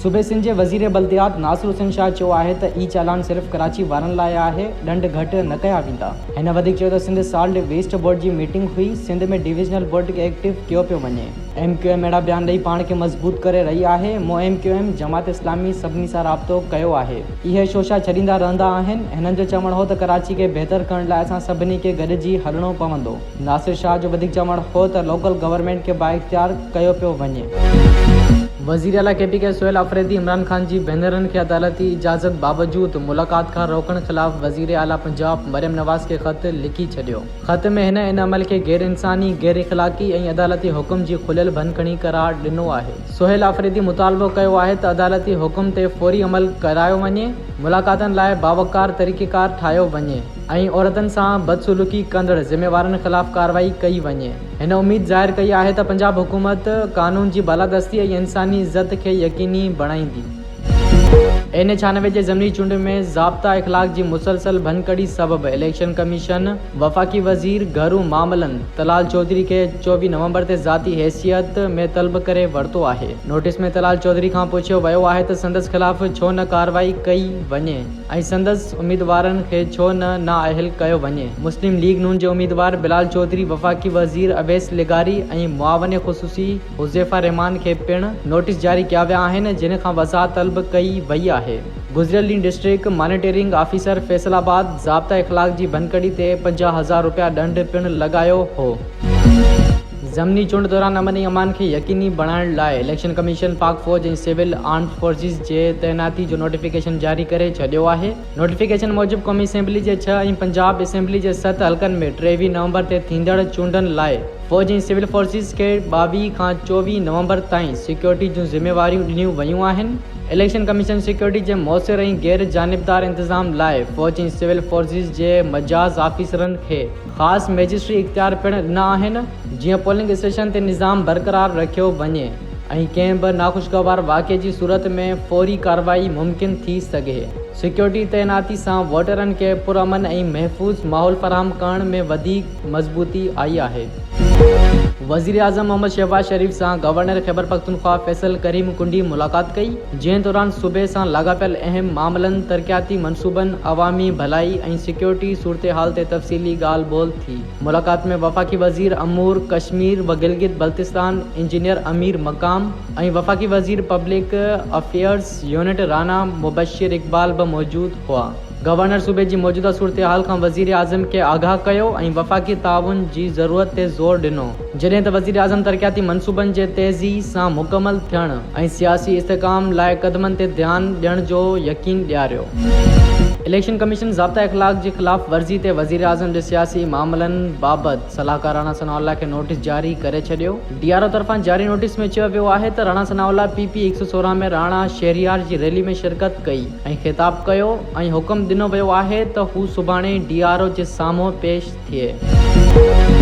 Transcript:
صوبي سنڌ جي وزير بلديات ناصر حسين شاهه چيو آهي ته اي چالان صرف ڪراچي وارن لاء آهي، ڏنڊ گهٽ نه ڪيا ويندا. هن وڌيڪ چيو ته سنڌ سالٽ ويسٽ بورڊ جي ميٽنگ هئي، سنڌ ۾ ڊويزنل بورڊ کي ايڪٽو ڪيو پيو وڃي. ايم ڪيو ايم اهڙا بيان ڏئي پاڻ کي مضبوط ڪري رهي آهي، مون M Q M, Jamaat Islami سڀني سان رابطو ڪيو آهي. اهي شوشا ڇڏيندا رهندا آهن. هنن جو چوڻ هو ته ڪراچي کي بهتر ڪرڻ لاء اسان سڀني کي گڏجي هلڻو پوندو. ناصر شاهه جو وڌيڪ چوڻ هو ته لوڪل گورنمينٽ کي بااختيار ڪيو پيو وڃي. وزير اعليٰ K P K Sohail Afridi Imran Khan جي ڀينرن کي عدالتي اجازت باوجود ملاقات کان روڪڻ خلاف وزير اعليٰ پنجاب مريم نواز کي خط لکي ڇڏيو. خط ۾ هن ان عمل کي غيرانساني، غيراخلاقي ۽ عدالتي حڪم جي کليل ڀڃڪڙي قرار ڏنو آهي. سهيل آفريدي مطالبو ڪيو آهي ته عدالتي حڪم تي فوري عمل ڪرايو وڃي، ملاقاتن لاء باوقار طريقيڪار ٺاهيو وڃي ۽ عورتن سان بدسلوڪي ڪندڙ ذميوارن خلاف ڪارروائي ڪئي وڃي. هن اميد ظاهر ڪئي آهي ته پنجاب حڪومت قانون جي بالادستي ۽ انساني عزت کي يقيني بڻائيندي. اين اي ڇيانوي جي ضمني چونڊ ۾ ضابطه اخلاق جي مسلسل ڀڃڪڙي سبب اليڪشن ڪميشن وفاقي وزير گهرو معاملن طلال چوڌري کي چوويهه نومبر تي ذاتي حيثيت ۾ طلب ڪري ورتو آهي. نوٽيس ۾ طلال چوڌري کان پڇيو ويو آهي ته سندس خلاف ڇو نه ڪارروائي ڪئي وڃي ۽ سندس اميدوارن کي ڇو نه نااهل ڪيو وڃي. مسلم ليگ نون جي اميدوار بلال چوڌري، وفاقي وزير اويس لغاري ۽ معاون خصوصي، حذيفه الرحمان کي پڻ نوٽيس جاري ڪيا ويا آهن جنھن کان وضاحت طلب ڪئي وئي آهي. گذريل ڏينھن district monitoring officer Faisalabad ضابطه اخلاق جي ڀڃڪڙي تي پنجاهه هزار رپيا ڏنڊ پڻ لڳايو هو. ضمني چونڊ دوران امن ۽ امان کي يقيني بڻائڻ لاء اليڪشن ڪميشن پاڪ فوج ۽ سول آرمز فورسز جي تعيناتي جو نوٽيفڪيشن جاري ڪري ڇڏيو آهي. نوٽيفڪيشن موجب قومي اسيمبلي جي ڇهه ۽ پنجاب اسيمبلي جي ست حلقن ۾ ٽيويهه نومبر تي ٿيندڙ چونڊن لاء، فوج ۽ سول فورسز کي ٻاويهه کان چوويهه نومبر تائين سيڪيورٽي جون ذميواريون ڏنيون ويون آهن. اليڪشن ڪميشن سيڪيورٽي جي موثر ۽ غير جانبدار انتظام لاء فوج ۽ سول فورسز جي مجاز آفيسرن کي خاص مئجسٽري اختيار پڻ ڏنا آهن، جيئن پولنگ اسٽيشن تي نظام برقرار رکيو وڃي ۽ ڪنهن به ناخوشگوار واقعي جي صورت ۾ فوري ڪارروائي ممڪن ٿي سگهي. سيڪيورٽي تعيناتي سان ووٽرن کي پرامن ۽ محفوظ ماحول فراهم ڪرڻ ۾ وڌيڪ مضبوطي آئي آهي. وزيراعظم محمد شهباز شريف سان گورنر خيبرپختونخوا فيصل ڪريم ڪنڊي ملاقات ڪئي، جنهن دوران صوبي سان لاڳاپيل اهم معاملن، ترقياتي منصوبن، عوامي ڀلائي ۽ سيڪيورٽي صورتحال تي تفصيلي ڳالهه ٻولهه ٿي. ملاقات ۾ وفاقي وزير امور ڪشمير و گلگت بلتستان انجنيئر امير مقام ۽ وفاقي وزير public affairs unit Rana Mubashir Iqbal به موجود هئا. گورنر صوبي جي موجوده صورتحال کان وزيراعظم کي آگاهه ڪيو ۽ وفاقي تعاون جي ضرورت تي زور ڏنو. جڏهن ته وزيراعظم ترقياتي منصوبن جي تيزي سان مڪمل ٿيڻ ۽ سياسي استحڪام لاء قدمن تي ڌيان ڏيڻ جو يقين ڏياريو. اليڪشن ڪميشن ضابطه اخلاق جي خلاف ورزي تي وزيراعظم جي سياسي معاملن بابت صلاحڪار راڻا ثناء الله کي نوٽيس جاري ڪري ڇڏيو. ڊي آر او طرفان جاري نوٽيس ۾ چيو ويو آهي ته Rana Sanaullah P P هڪ سؤ سورهن ۾ راڻا شهريار جي ريلي ۾ شرڪت ڪئي، ۽ خطاب ڪيو ۽ حڪم ڏنو ويو آهي ته هو سڀاڻي ڊي آر او جي سامهون پيش ٿئي.